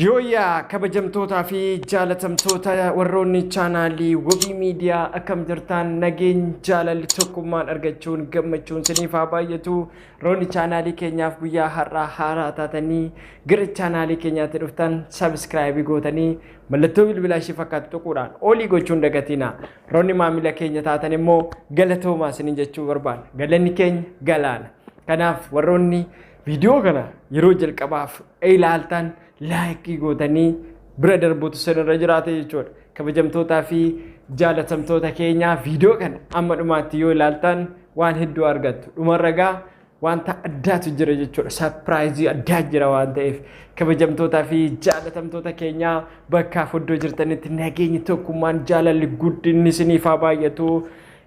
Yooyyaa kabajamtootaa fi jaalatamtoota warroonni chaanaalii wabii miidiyaa akkam jirtaan nageen jaalalli tokkummaan argachuun gammachuun siniif haa baay'atu roonni chaanaalii keenyaaf guyyaa har'aa haaraa taatanii gara chaanaalii keenyaatti dhuftan sabiskiraayibii gootanii mallattoo bilbilaa ishee fakkaatu tuquudhaan olii gochuun dagatiina roonni maamila keenya taatan immoo galatoomaa sinin jechuu barbaada galanni keenya galaana kanaaf warroonni Viidiyoo kana yeroo jalqabaaf ilaaltan laayikii gootanii bira darbuutu sanarra jiraate jechuudha. Kabajamtootaa fi jaalatamtoota keenyaa viidiyoo kana amma dhumaatti yoo ilaaltan waan hedduu argattu. Dhumarra gaa wanta addaatu jira jechuudha. Sarpiraayizii addaa jira waan ta'eef kabajamtootaa fi jaalatamtoota keenyaa bakkaaf iddoo jirtanitti nageenyi tokkummaan jaalalli guddinni isiniif haa baay'atu.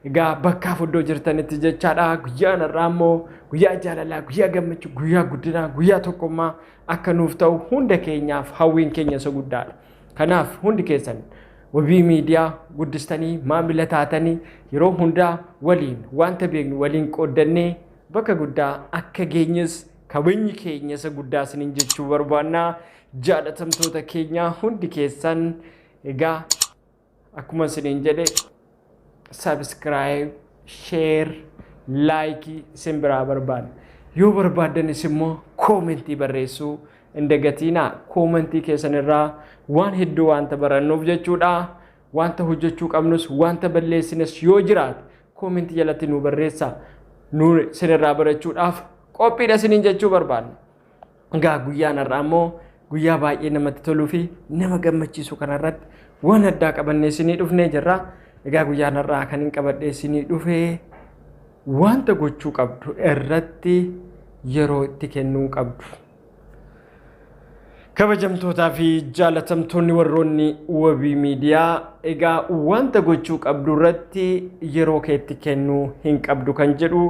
Egaa bakkaaf iddoo jirtanitti jechaadha guyyaan har'aa immoo guyyaa jaalalaa, guyyaa gammachuu, guyyaa guddinaa, guyyaa tokkummaa akka nuuf ta'u hunda keenyaaf hawwiin keenya isa guddaadha. Kanaaf hundi keessan wabii miidiyaa guddistanii maamila taatanii yeroo hundaa waliin wanta beeknu waliin qooddannee bakka guddaa akka geenyes kabajni keenya isa guddaa isiniin jechuu barbaanna. Jaalatamtoota keenyaa hundi keessan egaa Akkuma isiniin jedhe subscribe, share, like isin biraa barbaada. Yoo barbaaddanis immoo koomentii barreessuu hin dagatiinaa. Koomentii keessan irraa waan hedduu wanta barannuuf jechuudha. Wanta hojjechuu qabnus wanta balleessines yoo jiraate koomentii jalatti nu barreessa. Nu isinirraa barachuudhaaf qophiidha isiniin jechuu barbaadna. Egaa guyyaan har'aa immoo guyyaa baay'ee namatti toluu fi nama gammachiisu kanarratti waan addaa qabannee isinii dhufnee jirra. Egaa guyyaan har'aa kan hin qabadhee isinii dhufee wanta gochuu qabdu irratti yeroo itti kennuu qabdu. Kabajamtootaa fi jaalatamtoonni warroonni wabii miidiyaa egaa wanta gochuu qabdu irratti yeroo keetti kennuu hin qabdu kan jedhu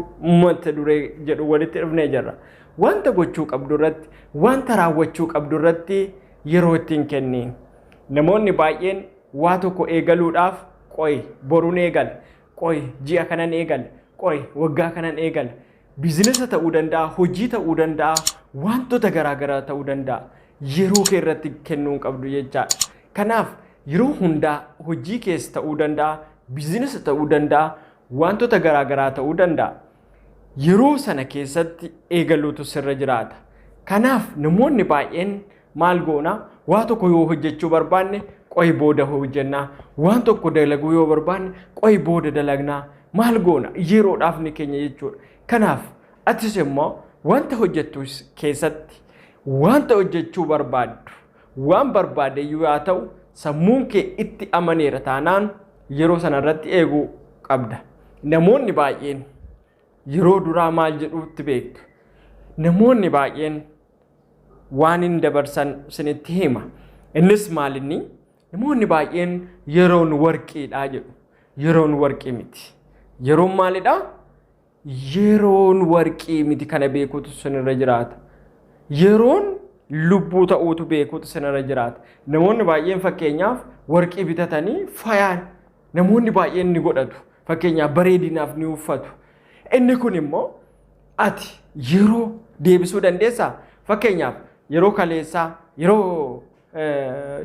mata duree jedhu walitti dhufnee jirra. Wanta gochuu qabdu irratti, wanta raawwachuu qabdu irratti yeroo ittiin kenni. Namoonni baay'een waa tokko eegaluudhaaf qoy borun eegala, qoy ji'a kanan eegala, qoy waggaa kanan eegala. Biizinasa ta'uu danda'a, hojii ta'uu danda'a, wantota garaa garaa ta'uu danda'a. Yeroo kee irratti kennuu hin qabdu jechaadha. Kanaaf yeroo hundaa hojii kees ta'uu danda'a, biizinasa ta'uu danda'a, wantota garaa garaa ta'uu danda'a. yeroo sana keessatti eegaluutu sirra jiraata. Kanaaf namoonni baay'een maal goona waa tokko yoo hojjechuu barbaanne qo'i booda hojjennaa waan tokko dalaguu yoo barbaanne qo'i booda dalagnaa maal goona yeroodhaaf ni keenya jechuudha. Kanaaf atis immoo wanta hojjettu keessatti wanta hojjechuu barbaaddu Waan barbaadeyyu yaa ta'u sammuun kee itti amaneera taanaan yeroo sana irratti eeguu qabda. Namoonni baay'een yeroo duraa maal jedhuutti beektu. Namoonni baay'een waan hin dabarsan sinitti hima. Innis maalinni namoonni baay'een yeroon warqiidha jedhu. Yeroon warqii miti. Yeroon maalidha? Yeroon warqii miti kana beekuutu sinirra jiraata. Yeroon lubbuu ta'uutu beekuutu sinirra jiraata. Namoonni baay'een fakkeenyaaf warqii bitatanii fayaan namoonni baay'een ni godhatu. Fakkeenyaaf bareedinaaf ni uffatu. Inni kun immoo ati yeroo deebisuu dandeessaa? Fakkeenyaaf yeroo kaleessaa, yeroo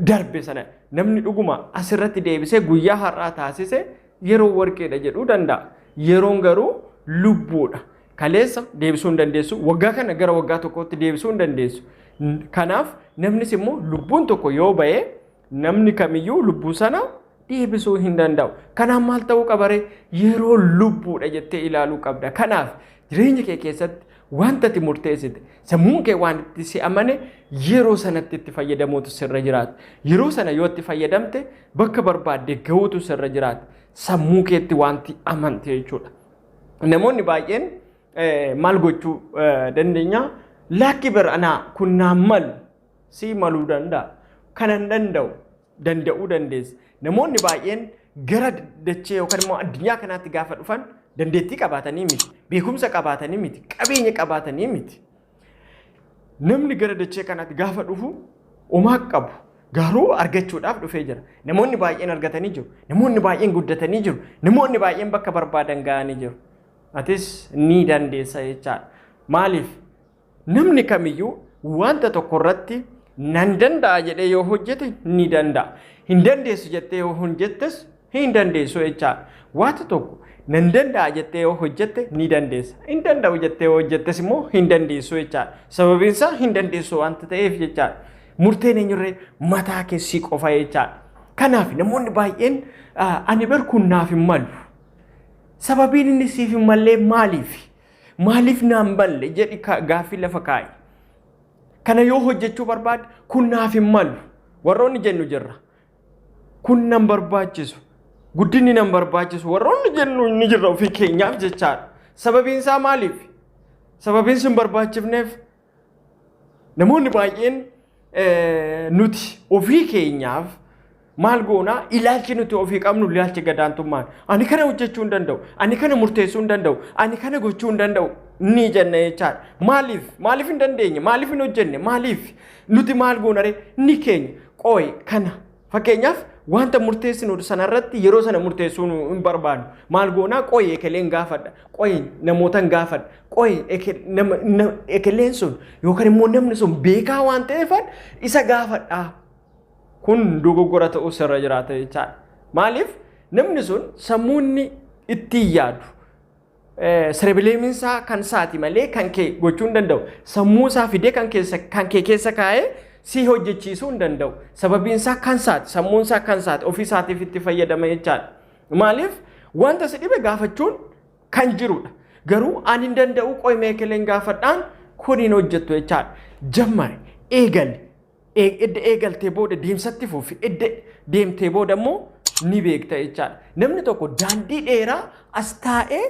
darbe sana namni dhuguma asirratti deebisee guyyaa har'aa taasise yeroo warqeedha jedhuu danda'a. Yeroon garuu lubbuudha. Kaleessa deebisuu hin dandeessu. Waggaa kana gara waggaa tokkootti deebisuu hin dandeessu. Kanaaf namnis immoo lubbuun tokko yoo ba'e namni kamiyyuu lubbuu sana deebisuu hin danda'u. Kanaaf maal ta'uu qabaree yeroo lubbuudha jettee ilaaluu qabda. Kanaaf jireenya kee keessatti wanta ati murteessite sammuun kee waan itti si amane yeroo sanatti itti fayyadamuutu sirra jiraata. Yeroo sana yoo itti fayyadamte bakka barbaadde gahuutu sirra jiraata. Sammuu keetti wanti amante jechuudha. Namoonni baay'een maal gochuu dandeenya? Laakki bar anaa kun naan malu sii maluu danda'a. Kana hin danda'u. Danda'uu dandeessa. Namoonni baay'een gara dachee yookaan immoo addunyaa kanaatti gaafa dhufan dandeettii qabaatanii miti. Beekumsa qabaatanii miti. Qabeenya qabaatanii miti. Namni gara dachee kanaatti gaafa dhufu homaa qabu. Garuu argachuudhaaf dhufee jira. Namoonni baay'een argatanii jiru. Namoonni baay'een guddatanii jiru. Namoonni baay'een bakka barbaadan ga'anii jiru. Atis ni dandeessa jechaadha. Maaliif? Namni kamiyyuu wanta tokko irratti nan danda'a jedhee yoo hojjete ni danda'a. Hin dandeessu jettee yoo hojjettes hin dandeessu jechaadha. Wanta tokko nan danda'a jettee yoo hojjette ni dandeessa. Hin danda'u jettee yoo hojjettes immoo hin dandeessu jechaadha. Sababiin isaa hin dandeessu wanta ta'eef jechaadha. Murteen eenyurree mataa keessii qofa jechaadha. Kanaaf namoonni baay'een ani bar kun naaf hin malu. Sababiin inni siif hin mallee maaliifi? Maaliif naan balle jedhi ka- gaaffii lafa kaa'i. Kana yoo hojjechuu barbaadde kun naaf hin malu. Warroonni jennu jirra. Kun nan barbaachisu. Guddinni nan barbaachisu. Warroonni jennu ni jirra ofii keenyaaf jechaadha. Sababiin isaa maaliif? Sababiin sun barbaachifneef Namoonni baay'een nuti ofii keenyaaf maal goonaa ilaalchi nuti ofii qabnu ilaalchi gadaantummaan ani kana hojjechuu hin danda'u ani kana murteessuu hin danda'u ani kana gochuu hin danda'u ni jenna jechaadha. Maaliif maaliif hin dandeenye maaliif hin hojjenne maaliif nuti maal goonaree ni keenya qooyi kana Fakkeenyaaf wanta murteessinu sana irratti yeroo sana murteessuu nu hin barbaadu. Maal goonaa qoyi ekeleen gaafadha. Qoyi namootan gaafadha. Qoyi eke- nama- na- ekeleen sun yookaan immoo namni sun beekaa waan ta'eefan isa gaafadha. Kun dogoggora ta'uu sirra jiraata jechaadha. Maaliif namni sun sammuu inni ittiin yaadu Sirebileemiin isaa kan isaati malee kan kee gochuu hin danda'u. Sammuu isaa fidee kan keessa kan kee keessa kaa'ee si hojjechiisuu hin danda'u. Sababiin isaa kan isaati, sammuun isaa kan isaati, ofii isaatiif itti fayyadama jechaadha. Maaliif wanta si dhibe gaafachuun kan jirudha. Garuu ani hin danda'u qo'imee keleen gaafadhaan kun hin hojjettu jechaadha. Jammari, eegali. Eeg- edda eegaltee booda deemsatti fufi edda deemtee booda immoo ni beekta jechaadha. Namni tokko daandii dheeraa as taa'ee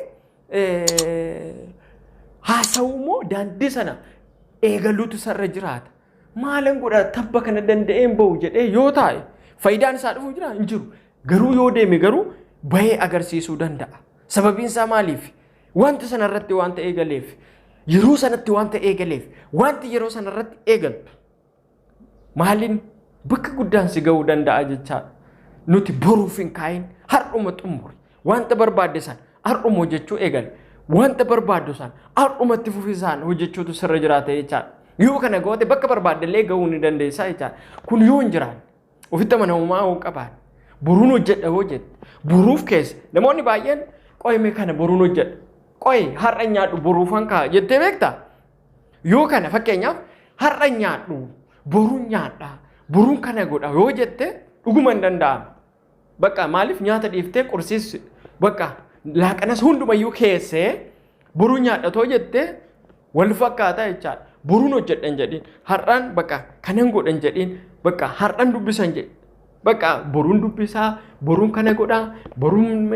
eh, haasa'u immoo daandii sana eegaluutu sarara jiraata. Maalan godha tabba kana danda'een bahu jedhee yoo taa'e faayidaan isaa dhufu jira hin jiru. Garuu yoo deeme garuu bahee agarsiisuu danda'a. Sababiin isaa maaliif? Wanta sana irratti wanta eegaleef, yeroo sanatti wanta eegaleef, wanti yeroo sana irratti eegaltu maaliin bakka guddaan si ga'uu danda'a jechaadha. Nuti boruuf hin kaa'in har'uma xumuri. Wanta barbaadde sana har'uma hojjechuu eegale. Wanta barbaaddu sana har'umatti fufisaan hojjechuutu sirra jiraata jechaadha. Yoo kana goote bakka barbaadde illee ga'uu ni dandeessaa jechaadha. Kun yoo hin jiraanne Ofitti amanamummaa hoo qabaan boruun hojjedha hoo jette boruuf keessa namoonni baay'een qo'e mee kana boruun hojjedha qo'e har'a nyaadhu boruufan ka'a jettee beektaa? Yoo kana fakkeenyaaf har'a nyaadhu boruun nyaadha boruun kana godha yoo jette dhuguma hin danda'amu. Bakka maaliif nyaata dhiiftee qursiis bakka laaqanas hundumayyuu keessee boruu nyaadhatoo jettee wal fakkaataa jechaadha. Boruun hojjedhan jedhiin. Har'aan bakka kanan godhan jedhiin. Bakka har'aan dubbisan jedhi. Bakka boruun dubbisaa, boruun kana godhaa, boruun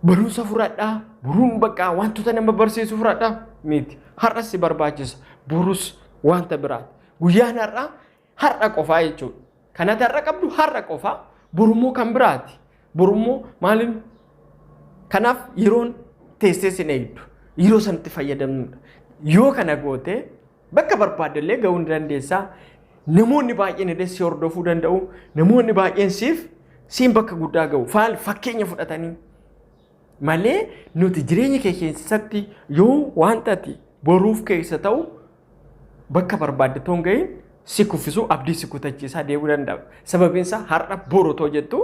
barumsa fudhadhaa, boruun bakka wantoota nama barsiisu fudhadhaa miti. Har'as si barbaachisa. Borus wanta biraati. Guyyaan har'aa Har'a qofaa jechuudha. Kan ati har'a qabdu har'a qofaa borummoo kan biraati. Borummoo maaliin kanaaf yeroon teessee sin eegdu yeroo sanatti fayyadamnudha. Yoo kana goote bakka barbaaddellee ga'uu ni dandeessaa. Namoonni baay'een illee si hordofuu danda'u. Namoonni baay'een siif siin bakka guddaa ga'u. Faal fakkeenya fudhatanii malee nuti jireenya kee keessatti yoo wanta ati boruuf keessa ta'u bakka barbaadde too hin gahin si kuffisuu abdii si kutachiisaa deemuu danda'a. Sababiin isaa har'a boru too jettu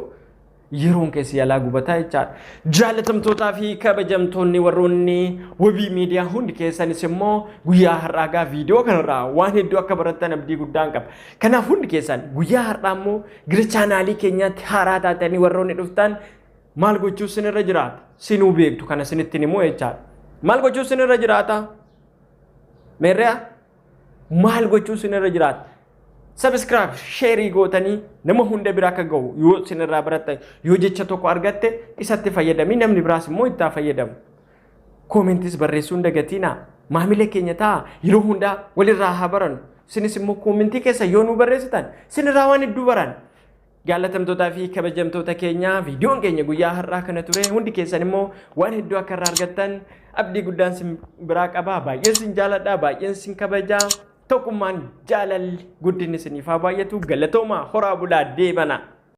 yeroon keessi yalaa gubataa jechaadha. Jaalatamtootaa fi kabajamtoonni warroonni wabii miidiyaa hundi keessanis immoo guyyaa har'aa gaa viidiyoo kanarraa waan hedduu akka barattan abdii guddaan qaba. Kanaaf hundi keessan guyyaa har'aa immoo gara chaanaalii keenyaatti haaraa taatanii warroonni dhuftan Maal gochuuf sin irra jiraata? Sinuu beektu kana sinittiin immoo jechaadha. Maal gochuuf sin irra jiraata? Meerriya maal gochuuf sin irra jiraata? Sabiskiraayib sheerii gootanii nama hunda bira akka ga'u yoo sin irraa baratte yoo jecha tokko argatte isatti fayyadamii namni biraas immoo itti haa fayyadamu. Koomentis barreessuun dagatiinaa maamila keenya ta'a yeroo hundaa walirraa haa barannu. Sinis immoo koomentii keessa yoo nu barreessitan sinirraa waan hedduu baran. Jaallatamtootaa fi kabajamtoota keenya viidiyoon keenya guyyaa har'aa kana ture hundi keessan immoo waan hedduu akka irraa argattan abdii guddaan sin biraa qaba baay'een sin jaaladha baay'een sin kabaja tokkummaan jaalalli guddinni siniif haa baay'atu galatoomaa horaa bulaa deebana.